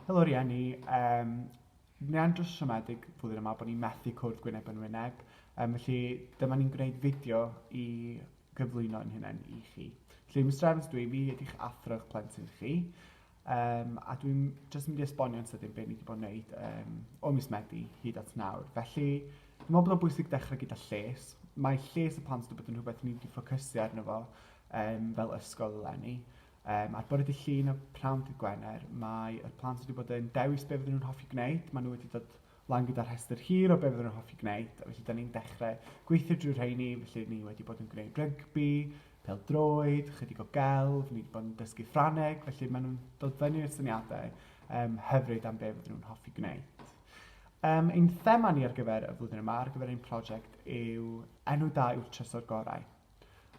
Helo rhieni, yym ni'n andros o siomedig flwyddyn yma bod ni methu cwrdd gwyneb yn wyneb yym felly dyma ni'n gwneud fideo i gyflwyno ein hunain i chi. Felly Mister Evans dwi, fi ydych athro eich plentyn chi yym a dwi'n jyst mynd i esbonio'n sydyn be ni wedi bod yn wneud yym o mis Medi hyd at nawr. Felly dwi'n meddwl bod o'n bwysig dechrau gyda lles. Mae lles y plant wedi bod yn rhywbeth ni wedi ffocysu arno fo yym fel ysgol eleni Um, ar bore dy llun a pnawn dy gwener, mae y plant wedi bod yn dewis beth fydden nhw'n hoffi gwneud. Maen nhw wedi dod lan gyda rhestr hir o beth fydden nhw'n hoffi gwneud. A felly, da ni'n dechrau gweithio drwy rheini. Felly, ni wedi bod yn gwneud rygbi, pel droed, chydig o gelf, ni wedi bod yn dysgu Ffraneg. Felly, maen nhw'n dod fyny i'r syniadau um, hyfryd am beth fydden nhw'n hoffi gwneud. Um, ein thema ni ar gyfer y flwyddyn yma, ar gyfer ein prosiect, yw enw da yw'r trysor gorau.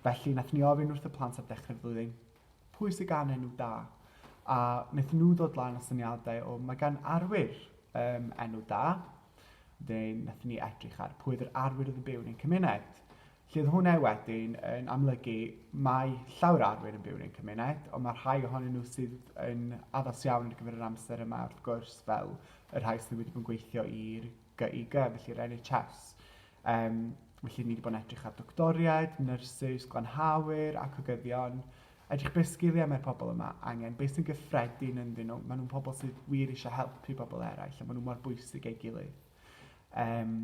Felly, nath ni ofyn wrth y plant ar dechrau'r flwyddyn, pwy sy'n gan enw da? A wnaethon nhw ddod lan o syniadau o mae gan arwyr um, enw da. Wedyn, nath ni edrych ar pwy oedd yr arwyr oedd yn byw yn ein cymuned. Lle oedd hwnna wedyn yn amlygu mae llawer arwyr yn byw yn ein cymuned, ond mae rhai ohonyn nhw sydd yn addas iawn ar gyfer yr amser yma, wrth gwrs, fel y rhai sydd wedi bod yn gweithio i'r GIG, felly yr NHS. Yym, felly ni 'di bod yn edrych ar doctoriaid, nyrsys, glanhawyr, acugyddion, edrych be' sgiliau mae'r pobl yma angen, be' sy'n gyffredin ynddyn nhw, maen nhw'n pobl sydd wir eisiau helpu pobl eraill a maen nhw mor bwysig ei gilydd. Um,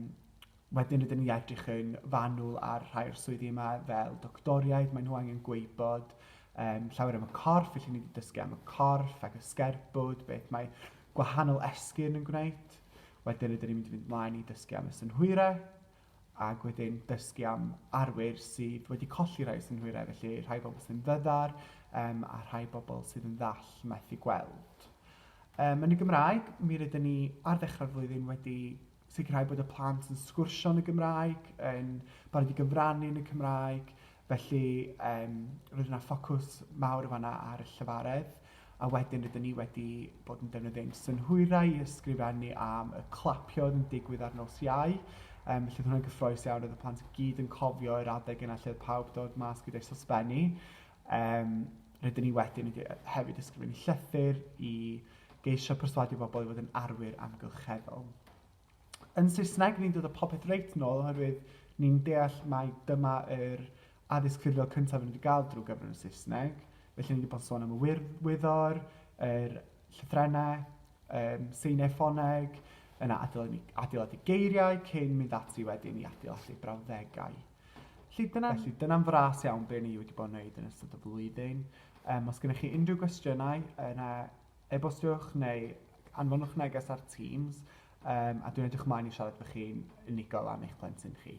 wedyn rydyn ni edrych yn fanwl ar rhai o'r swyddi yma fel doctoriaid, maen nhw angen gweibod um, llawer am y corff, felly ni wedi dysgu am y corff ac y sgerbwd, beth mae gwahanol esgyn yn gwneud. Wedyn rydyn ni'n mynd i fynd mlaen i dysgu am y synhwyrau, ac wedyn dysgu am arwyr sydd wedi colli rhai synhwyrau, felly rhai bobl sy'n ddyddar um, a rhai bobl sydd yn ddall methu gweld. Um, yn y Gymraeg, mi rydyn ni ar ddechrau'r flwyddyn wedi sicrhau bod y plant yn sgwrsio yn y Gymraeg, yn barod i gyfrannu yn y Cymraeg, Felly yym roedd yna ffocws mawr yn fan'na ar y llefaredd a wedyn rydyn ni wedi bod yn defnyddio ein synhwyrau i ysgrifennu am y clapiau oedd yn digwydd ar nos Iau. Um, felly oedd hwnna'n gyffroes iawn, oedd y plant i gyd yn cofio yr adeg yna lle oedd pawb dod mas gyda'i sosbennu. Um, rydyn ni wedyn wedi hefyd ysgrifennu llythyr i geisio perswadio bobl i fod yn arwyr amgylcheddol. Yn Saesneg, ni'n dod â popeth reit nôl oherwydd ni'n deall mai dyma yr addysg ffurfiol cyntaf rydyn ni wedi gael drwy gyfrwng y Saesneg. Felly, ni wedi bod yn sôn am y wir, wyddor, yr llythrennau, um, seiniau ffoneg, yna adeiladu, adeiladu geiriau cyn mynd ati wedyn i adeiladu brawddegau. Felly dyna'n Felly, dyna fras iawn be ni wedi bod yn gwneud yn ystod y flwyddyn. Um, os gennych chi unrhyw gwestiynau, yna e-bostiwch neu anfonwch neges ar Teams, yym, a dwi'n edrych ymlaen i siarad efo chi'n unigol am eich plentyn chi.